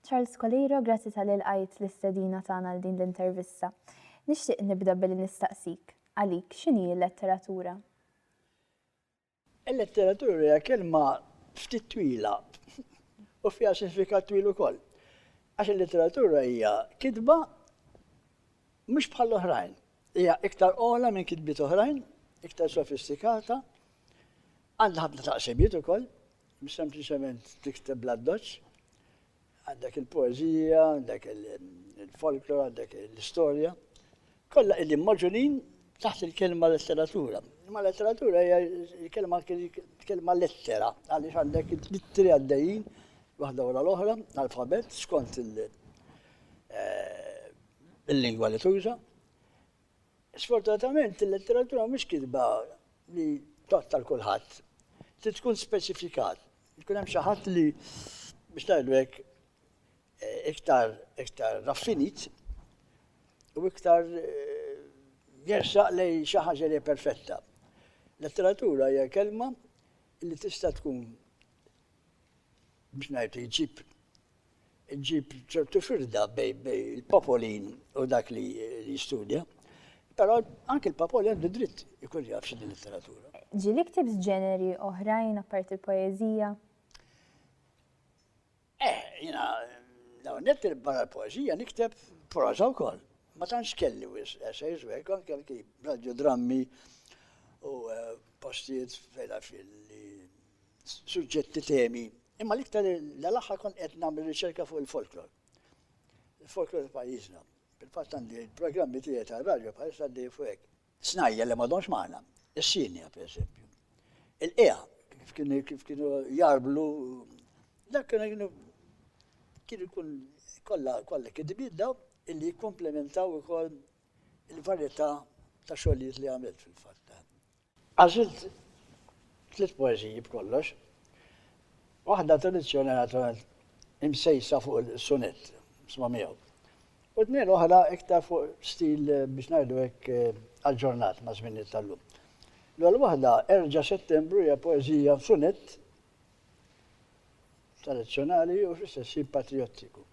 Charles Coliro, grazzi tal ilqajt l-istedina tagħna għal din l-intervista. Nixtieq nibda billi nistaqsik, għalik, x'inhi l-letteratura? Il-letteratura hija kelma ftit twila u fiha sinifikat twil ukoll. Għax il-letteratura hija kitba mhux bħall-oħrajn. Hija iktar ogħla minn kitbiet oħrajn, iktar sofistikata, għandha ħafna taqsimiet ukoll, mhux sempliċement tikteb bl-addoċċ. Għandek il-poeżija, għandek il-folklor, għandek l-istorja. Kollha qegħdin moġulin taħt il-kelma letteratura. Ma letteratura hija l-kelma kelma lettera, għaliex għandek it-tiri għaddejjin waħda wara l-oħra, alfabet, skont il- eh, il-lingwa li tuża. Sfortunatament il-letteratura mhix kitba li totta l kulħadd. Trid tkun speċifikat. Jkun hemm xi ħadd li biex ngħidu hekk eh, iktar iktar raffinit u iktar eh, jersaq lej xi ħaġa li perfetta. Letteratura hija kelma li tista' tkun biex ngħid jġib Ġġib ċertu firda bejn il-papolin u dak li jistudja, però anke l-papolin għandu dritt ikun jaf xi din letteratura. Ġieli ktibt ġeneri oħrajn apparti l-poeżija? Eh, jiena l-ewwel nett barra l-poeżija nikteb proża wkoll. Ma tantx kelli wis essays u hekk anke anki radiodrammi u eh, postijiet fejn li suġġetti, temi, imma l-iktar l-aħħar kont qed nagħmel riċerka fuq il-folklor. Il-folklor ta' pajjiżna. Fil-fatt għandi il-programmi tiegħi ta' radju bħal għaddej fuq hekk. Snajja li m'għadhomx magħna, is-sinja pereżempju. Il-qija kif kienu kif kienu jarblu dak kienu kienu kienu kun kollha kollha kidbiet daw illi jikkomplementaw ukoll il-varjetà ta' xogħlijiet li għamilt fil-fatt. Għażilt tliet poeżiji b'kollox, waħda tradizzjonali naturalment imsejsa fuq il-sunett, sma' miegħu, u tnejn oħra iktar fuq stil biex ngħidu hekk aġġornat maż-żminijiet tal-lum. L-ewwel waħda, Erġa' Settembru hija poeżija f'sunett tradizzjonali u fl-istess ħin patrijottiku.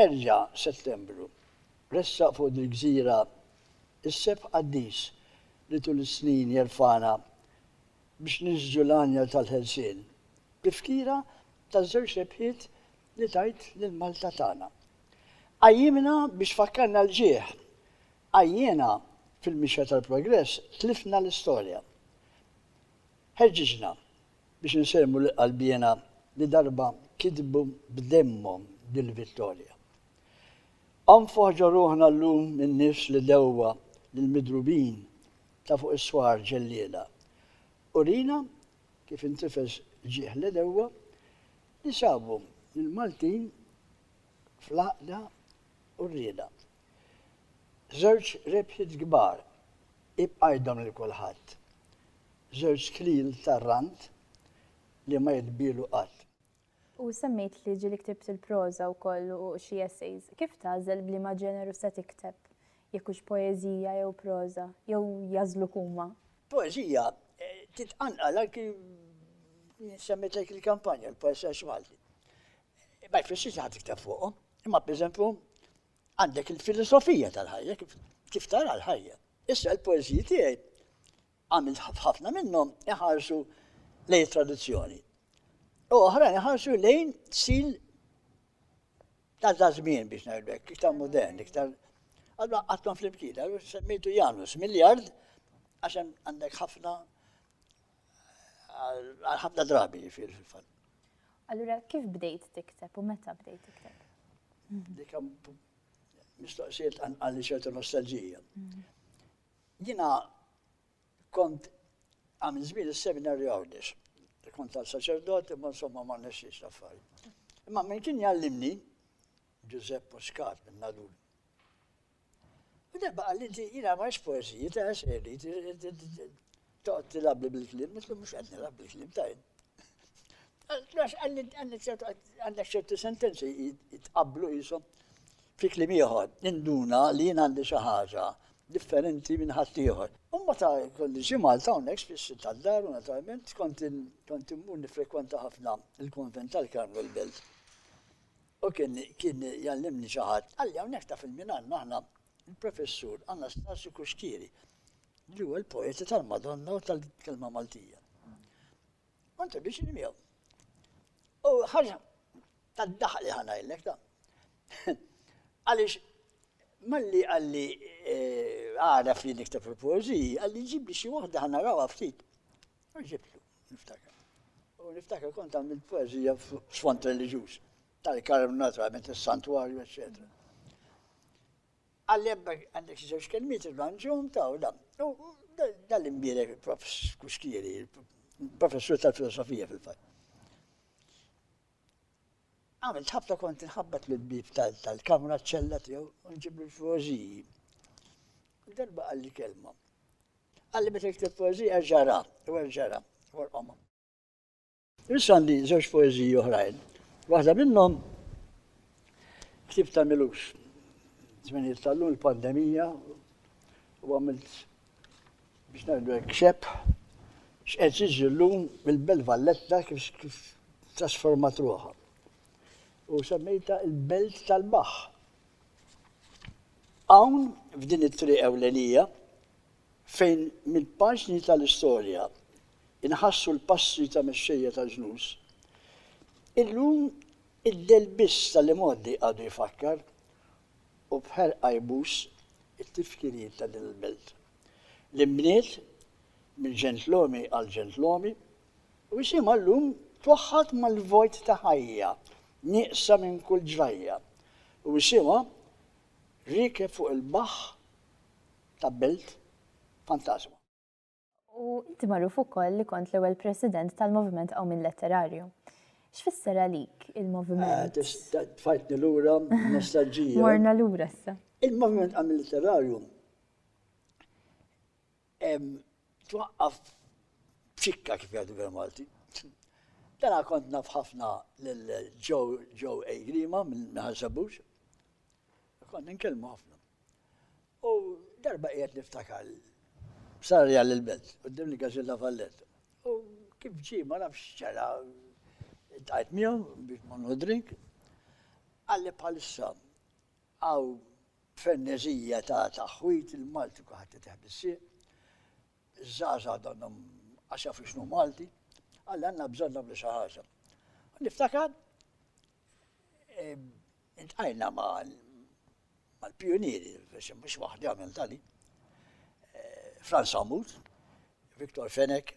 Erġa' Settembru. Ressaq fuq dil-gżira s-sebħ qaddis li tul is-snin jerfagħna biex ninsġu l-għanja tal-ħelsien, b'tifkira taż-żewġ rebħiet li tajt lil Malta tagħna. Qajjimna biex fakkarna l-ġieħ, għajjiena fil-mixja tal-progress tlifna l-istorja. Ħeġġiġna biex insellmu lil qalbiena li darba kitbu b'demmhom dil-vittorja. Onfħ ġorruħna llum min-nies li dewwa lill-midrubin ta' fuq is-swar ġelliela. Urina kif intifeż ġieħ l-għedewwa li sabu lill-Maltin fl-għaqda u r-rieda. Żewġ rebħiet kbar ibqajthom lil kulħadd. Żewġ klil tar-rand li ma jitbiegħlu qatt. U semmejt li ġieli ktibt il-proża wkoll u xi essays. Kif tagħżel b'liema ġeneru se tikteb, jekk hux poeżija jew proża, jew jagħżluk huma? Poeżija titqanqal anki, semmejt lek il-kampanja, il-poesers Malti. Ma jfissirx li ħa tikteb fuqhom, imma pereżempju għandek il-filosofija tal-ħajja, kif tara l-ħajja. Issa l-poeżiji tiegħi għamilt f'ħafna minnhom iħarsu lejn it-tradizzjoni u oħrajn iħarsu lejn sil ta' żmien biex ngħidu hekk, iktar modern, iktar Allora għattom fl-imkien, semmejtu Janus, miljard, għaxem għandek ħafna ħafna drabi fil-fat. Allura, kif bdejt tikteb u meta bdejt tikteb? Dikam mistoqsijiet għalli ċertu nostalġija. Jiena kont għamil żmien is-seminarju Għawdex. Kont għal saċerdot imma insomma ma nexxiex l-affarijiet. Imma min kien jgħallimni Ġużepp Muscat minn Nadul. U darba qal inti jiena ma poeżiji ta' xejn Toqgħod tilabli bil-kliem, nitlu mhux qed nilab bil-kliem tajn. Għax għandek ċertu sentenzi jitqablu jisom fi kliem ieħor, induna li jien għandi xi ħaġa differenti minn ħadd ieħor. Umma ta' kolli xi Malta hawnhekk spiss tal-dar u naturalment kont kont immur nifrekwenta ħafna il-konvent tal-Karmel Belt. U kien kien jallimni xi ħadd, għalli hawnhekk ta' fil-minan aħna il-Professur Anastasio Cuschieri, li huwa l-poeta tal-Madonna u tal-kelma Maltija. U introduċini miegħu. U ħaġa tad-daħal li ħanajlek ta' għaliex malli għalli eh, għara fli niktab il-poeziji, għalli ġibli xi waħda ħana rawa ftit. U ġibtu, niftakar. U niftakar kont għamil poezija f'sfond reliġjuż. tal-karm naturalment is-santwarju eċċetera. Għallem għandek xi żewġ kelmiet irranġhom ta' u dan. Dal-imbierek prof Kuxkieri, professur tal-filosofija fil-fatt. Għamil ħafna kont nħabbat l-bib tal-kamra ċella tiegħu u nġib il-poeżiji. Darba għalli kelma. Għalli meta jikteb poeżija ġara, u ġara, u l-qoma. Issa għandi żewġ poeżiji oħrajn. Waħda minnhom ktib ta' Milux. Żminijiet tal-lum il-pandemija u għamilt biex ngħidu hekk xepp x'qed jiġi llum mill-Belt Valletta kif kif trasformat ruħha. U semmejta il-Belt tal-Baħ. Hawn f'din it-triq ewlenija fejn mill-paġni tal-istorja nħassu l-passi ta' mexxejja tal-ġnus, illum id-delbiż tal-imgħoddi għadu jfakkar u b'ħerqa jbus it-tifkiriet ta' din il-belt, li nbniet minn ġentlomi għal ġentlomi u isimha llum twaħħad mal-vojt ta' ħajja nieqsa minn kull ġrajja u isimha rikeb fuq il-baħħ Tabbelt, fantasma. U inti magħruf ukoll li kont l-ewwel President tal-Moviment Qawmien Letterarju. X'fisser għalik il-Moviment? Eh, tfajtni lura nostalġija. Morna lura issa. Il-Moviment Qawmien Letterarju twaqqaf ċikka kif jgħidu bil Malti. Dana kont naf ħafna l-Joe A. Grima minn Ħansabux. Kont nkellmu ħafna. U darba qiegħed niftakar, sarli għal il-belt, quddiem il-Gazilla Valletta. U kif ġie ma nafx x'ġara, tajt miegħu biex ma nħodrik, qalli bħalissa għaw fernezija ta' taħwit il-Malti kuħat jitħ bis-sieq, żgħażagħ donnhom għax jafu x'nu Malti, għalli għandna bżonn nagħmlu xi ħaġa. Niftakar intqajna ma' Mal-pijunieri, forsi mhux waħdi għamilt għali, Frans Amoud, Victor Fenech,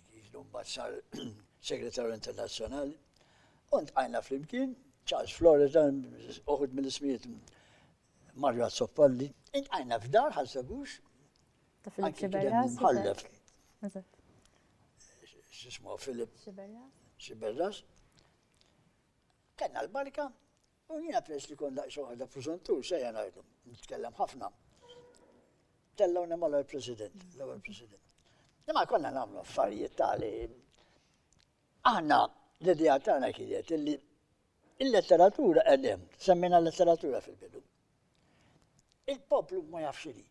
li mbagħad sar Segretarju Internazzjonali, u ntqajna flimkien, Charles Flores, dan uħud mill-ismijiet Mario Azzoppalli, intqajna f'dar ħassabux. Ta' Filip Xiberra. Ħallef. Xismu Filip. Xiberra. Xiberra. Kenna l-barka, U jiena peress li kont daqs waħda preżuntur sejja ngħidu, nitkellem ħafna. Tellgħuni mal-ewwel President, l-ewwel President. Imma konna nagħmlu affarijiet tali. Aħna l-idea tagħna kienet illi il-letteratura qegħdem, semmina letteratura fil-bidu. Il-poplu ma jafx li.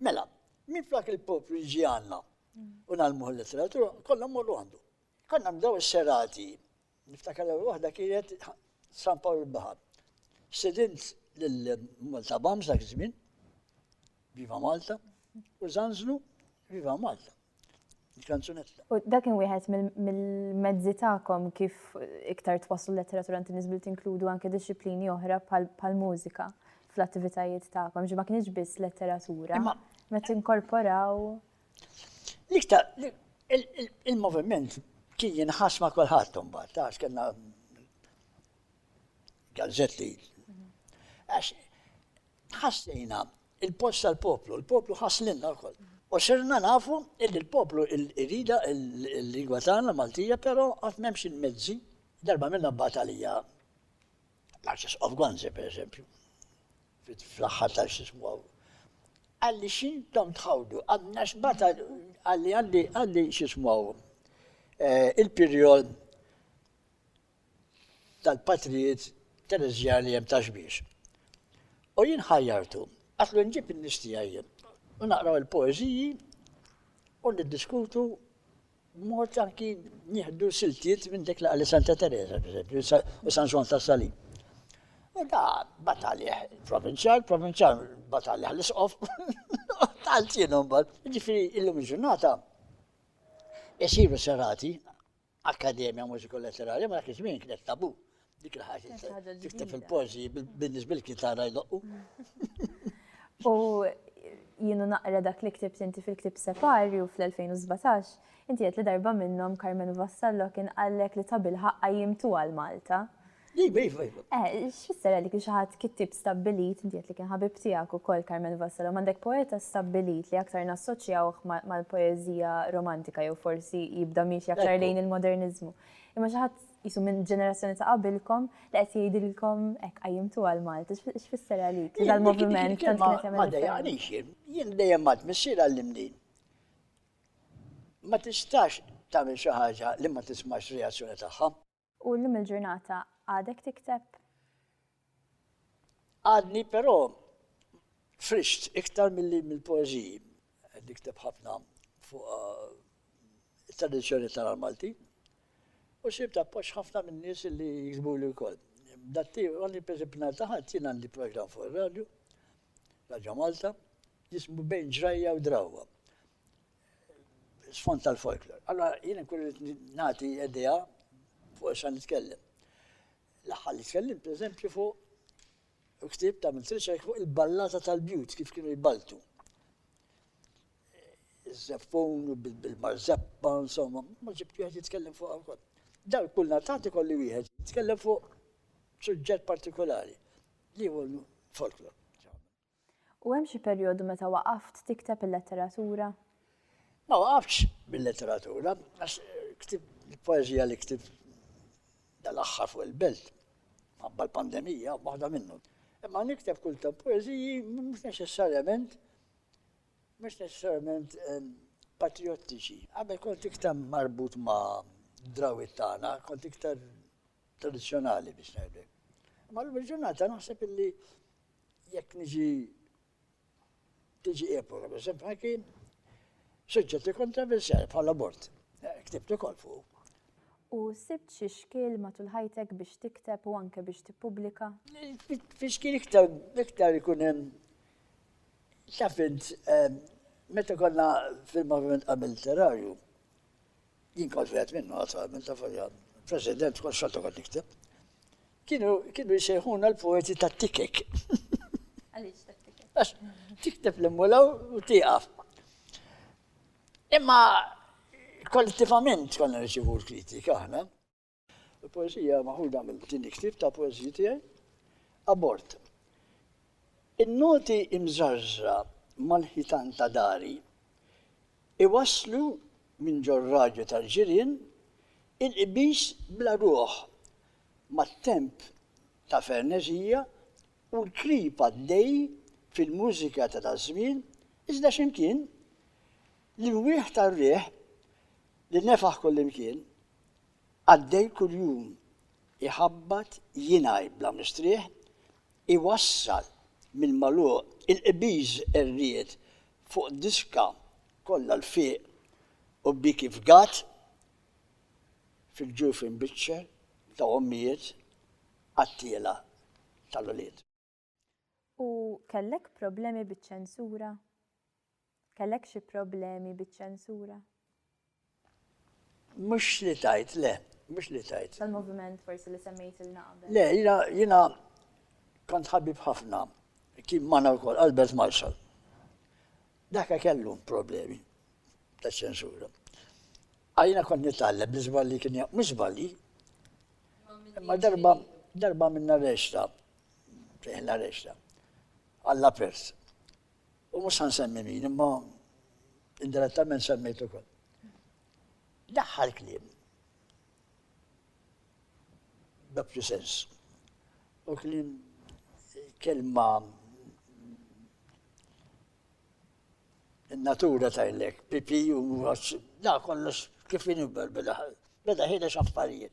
Mela, minn flak il-poplu jiġi għandna u nagħmlu l-letteratura, kollha morru għandu. Konna nbdew is-serati Niftakar l-ewwel waħda kienet San Pawl il-Baħar. Sidint lill-Malta Bams dak iż-żmien, Viva Malta, u zanzlu Viva Malta. Il-kanzunetta. U dak kien wieħed mill-mezzi tagħkom kif iktar twaslu letteratura inti niżbil tinkludu anke disċiplini oħra bħal-mużika fl-attivitajiet tagħkom, ġi ma kienx biss letteratura, ma tinkorporaw. L-iktar, il-moviment kien jinħas ma' kulħadd imbagħad, għax kellna gazzetti. Għax ħassejna il-post tal-poplu, il-poplu ħaslinna wkoll. U sirna nafu il-poplu il-rida il-lingwa tagħna Maltija, però qatt m'hemmx il-mezzi darba minna batalija L-Arċisqof Gonzi, pereżempju, fl-aħħar tal-xismu għalli xintom tħawdu, għadna xbata għalli għalli għalli xismu eh, il-perjol tal-patrijiet terezjani jem taġbiex. U jien ħajjartu, għatlu nġib il-nistijaj, u naqraw il-poeziji, u niddiskutu B'mod anki nieħdu siltiet minn dik li qalet Santa Teresa, pereżempju, u San Ġwann tas-Salib. U da batalih il-provinċjal, il-provinċjal batalih l-isqof, tal-ċinu mbagħad. Ġifieri illum il-ġurnata isiru serati Akkademja Mużiku Letterarja ma dak iż-żmien kienet tabu. Dik il-ħaġa ġifta fil-pożi bil-biznis bil-kitara jdoqqu. U jienu naqra dak li ktibt inti fil-ktib Separju fl-2017, inti qed li darba minnhom Carmenu Vassallo kien qallek li ta' bil-ħaqqa jimtu għal Malta. Iva, iva, iva. Eh, x'fisser għalik li xi ħadd kittib stabbilit, inti qed li kien ħabib tiegħek ukoll Carmen Vassallo, m'għandek poeta stabbilit li aktar nassoċjawh mal-poeżija romantika jew forsi jibda miex aktar lejn il-moderniżmu. Imma xi ħadd Qisu minn ġenerazzjoni ta' qabilkom li qed jgħidilkom hekk qajjimtuha l-Malti. X'fisser għalik li dal-moviment tant kien qed jagħmel. Ma dejjaqnix jien. Jien dejjem għadt missier għallimni ma tistax tagħmel xi ħaġa li ma tismax reazzjoni tagħha. U llum il-ġurnata għadek tikteb? Għadni però frixt iktar milli mill-poeżiji qed nikteb ħafna fuq it-tradizzjoni tal-għar Malti u sibt appoġġ ħafna minn nies li jiksbuli wkoll. Datti, għandi pereżempju nhar ta' ħadd jien għandi programm fuq ir-radju, Radja Malta, jismu bejn ġrajja u drawwa. Sfond tal-folklor. Allora jien nkun nagħti idea fuq sa nitkellem. L-aħħar li tkellimt pereżempju fuq u ktibt għamilt riċerka fuq il-ballata tal-bjut kif kienu jballtu. Iż-żeppun bil-marzeppa, insomma, ma ġibt wieħed jitkellem fuq wkoll. Dar kull natati kolli wieħed jitkellem fuq suġġett partikolari li huwa folklor. U hemm xi perjodu meta waqaft tikteb il-letteratura? Ma waqaftx bil-letteratura, għax ktibt il-poeżija li ktibt dal-aħħar fuq il-belt, mħabba l-pandemija, waħda minnhom. Imma nikteb kull ta' poeżiji mhux neċessarjament mhux neċessarjament ehm, patriottiċi. Għabel kont iktar marbut ma' drawit tagħna, kont iktar tradizzjonali biex ngħidlek. Ma l-ġurnata naħseb illi jekk niġi tiġi April għal eżempju, ma kien suġġett ikun ta' bil-seħ bħala bord. Eh, ktibt ukoll fuq. U sibt xi xkiel matul ħajtek biex tikteb u anke biex tippubblika? Fi xkiel iktar iktar ikun hemm xafint eh, meta konna fil-moviment qabel literarju. Jien kont wieħed minnhom attwalment ta' folja President kont xorta kont nikteb. Kienu kienu jsejħuna l-poeti ta' tikek. Għaliex ta' tikek? Għax tikteb l-immulaw u tieqaf. Imma kollettivament konna nirċivu l-kritika aħna. Il-poeżija maħuda minn din il-ktieb ta' poeżiji tiegħi, Abort. In-noti imżarżra mal-ħitan ta' dari iwasslu minn ġor-radju tal-ġirien il-qbiż bla ruħ mat-temp ta' ferneżija u l-krib għaddej fil-mużika ta' daż-żmien iżda x'imkien l-imwieħ tar-riħ li nefaħ kullimkien Qaddej kuljum iħabbat jingħi bla mistrieħ iwassal mill-magħluq il-qbiż qerriet fuq diska kollha l-fiq u bik ifgat fil-ġuf imbiċċer ta' ommijiet qattiela tal-ulied. U kellek problemi biċ-ċensura? Kellek xi problemi biċ-ċensura? Mhux li tajt, le, mhux li tajt. Tal-moviment forsi li semmejt il-naqbel. Le, jina, jina kont ħabib ħafna, kien mana wkoll Albert Marshall. Daka kellu problemi ta' ċensura. Għajna kont nitgħallem li żballi kien mhux żballi. Imma darba darba minna reċta fejn l-arresta. Alla pers. U mhux san semmi min, imma indirettament semmejtu kol. L-aħħar kliem. Doppju sens. U kliem kelma natura tajlek, pipi u għax, da kollox kif inibber beda, beda ħina xaffarijiet.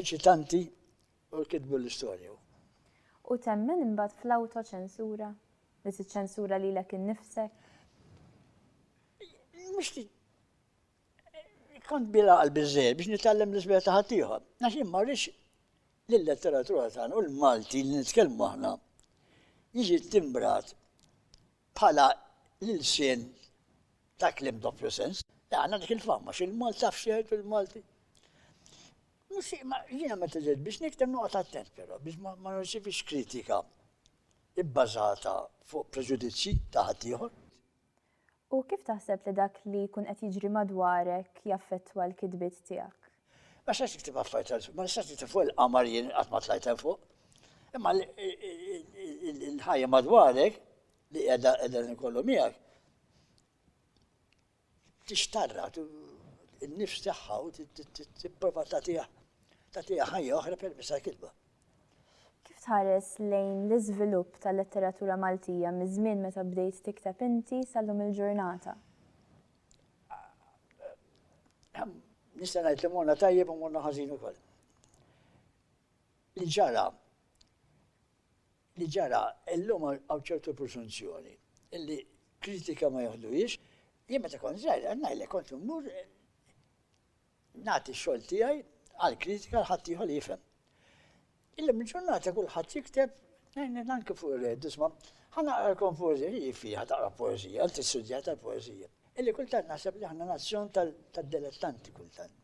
eċitanti u kitbu l-istorja. U temmen imbagħad fl-awtoċensura? Li tiċċensura lilek innifsek? Mhux kont bila qalbi żejjed biex nitgħallem l-isbieħ ta' ħaddieħor. Għax jien ma rridx lill-letteratura tagħna u l-Malti li nitkellmu aħna jiġi timbrat Bħala l-ilsien ta' kliem doppju sens, għandna dik il-fama, x'il-Malti taf x'jgħidu l-Malti. Jiena meta ġejt biex nikteb noqgħod attent però biex ma nirċivix kritika ibbażata fuq preġudizzji ta' ħaddieħor. U kif taħseb li dak li jkun qed jiġri madwarek jaffettwa l-kitbiet tiegħek? Ma xtaqx niktib affarijiet għal ma nistax niktib fuq il-qamar jien qatt ma tlajt hemm fuq. Imma l-ħajja madwarek li qiegħda qiegħda nkollu miegħek tixtarra n-nifs tagħha u tipprova tagħtiha tagħtiha ħajja oħra permezz tal-kitba. Kif tħares lejn l-iżvilupp tal-letteratura Maltija miż-żmien meta bdejt tikteb inti sal-lum il-ġurnata? Nista' ngħid li morna tajjeb u morna ħażin ukoll. Li ġara li ġara illum hawn ċertu presunzjoni illi kritika ma joħduhiex, jien meta kont żgħir ngħidlek kont immur Nagħti x-xogħol tiegħi għall-kritika għal ħaddieħor li jifhem. Illum il-ġurnata kulħadd jikteb anke fuq ir-red, isma' ħa naqralkom poeżija li fiha taqra poeżija, inti studjat tal-poeżija. Illi kultant naħseb li aħna nazzjon tad-dilettanti kultant.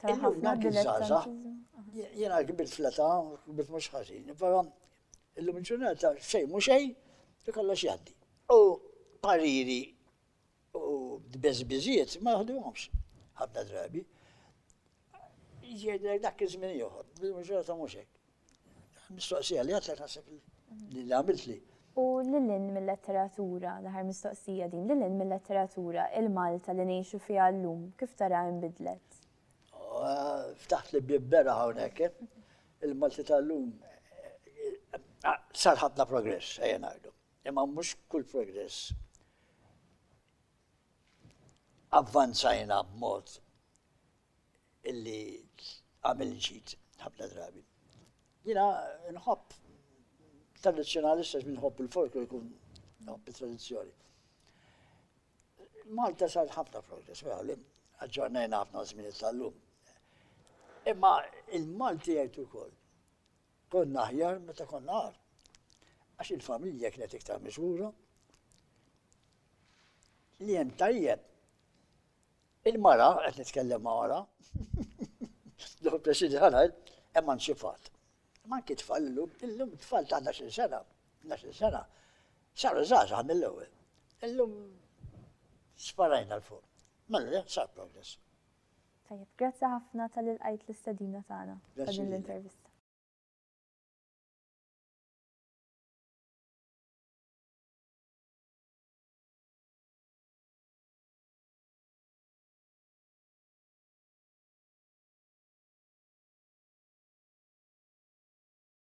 Illum dak iż-żgħażagħ jiena kbirt fl-età, kbirt mhux ħażin, però illum il-ġurnata xejn mhux xejn li kollox jgħaddi. U pariri U d-beżbiżiet ma naħduhomx ħafna drabi. Jgħidlek dak iż-żmien ieħor, bil-maġġoranza mhux hekk. Mistoqsija li għadlek naħseb li għamilt li. U lilin mil-letteratura, l-aħħar mistoqsija din, lilin mil-letteratura, il-Malta li ngħixu fiha llum, kif taraha inbidlet? Ftaħt li bieb bera hawnhekk, eh? il-Malti tal-lum sar ħafna progress, ejja ngħidu. Imma mhux kull progress avvanzajna b'mod illi għamil ġid ħafna drabi. Jina nħobb tradizjonalista minn nħobb il-folklu jkun nħobb il-tradizjoni. Malta sar ħafna progress, vera li aġġornajna ħafna żmien tal-lum. Imma il-Malti jgħid ukoll Konna aħjar meta konna għar, għax il-familja kienet iktar miżura. Li hemm tajjeb, il-mara, qed nitkellem ma' mara, l president ħanajl, hemm anċifat. Man kif tfal illum, illum tfal ta' 12 sena, 12 sena, saru żgħażagħ mill-ewwel. Illum sparajna l-fuq. Mela, sar progress. Tajjeb, grazzi ħafna talli lqajt l-istedina tagħna ta' din l-intervista.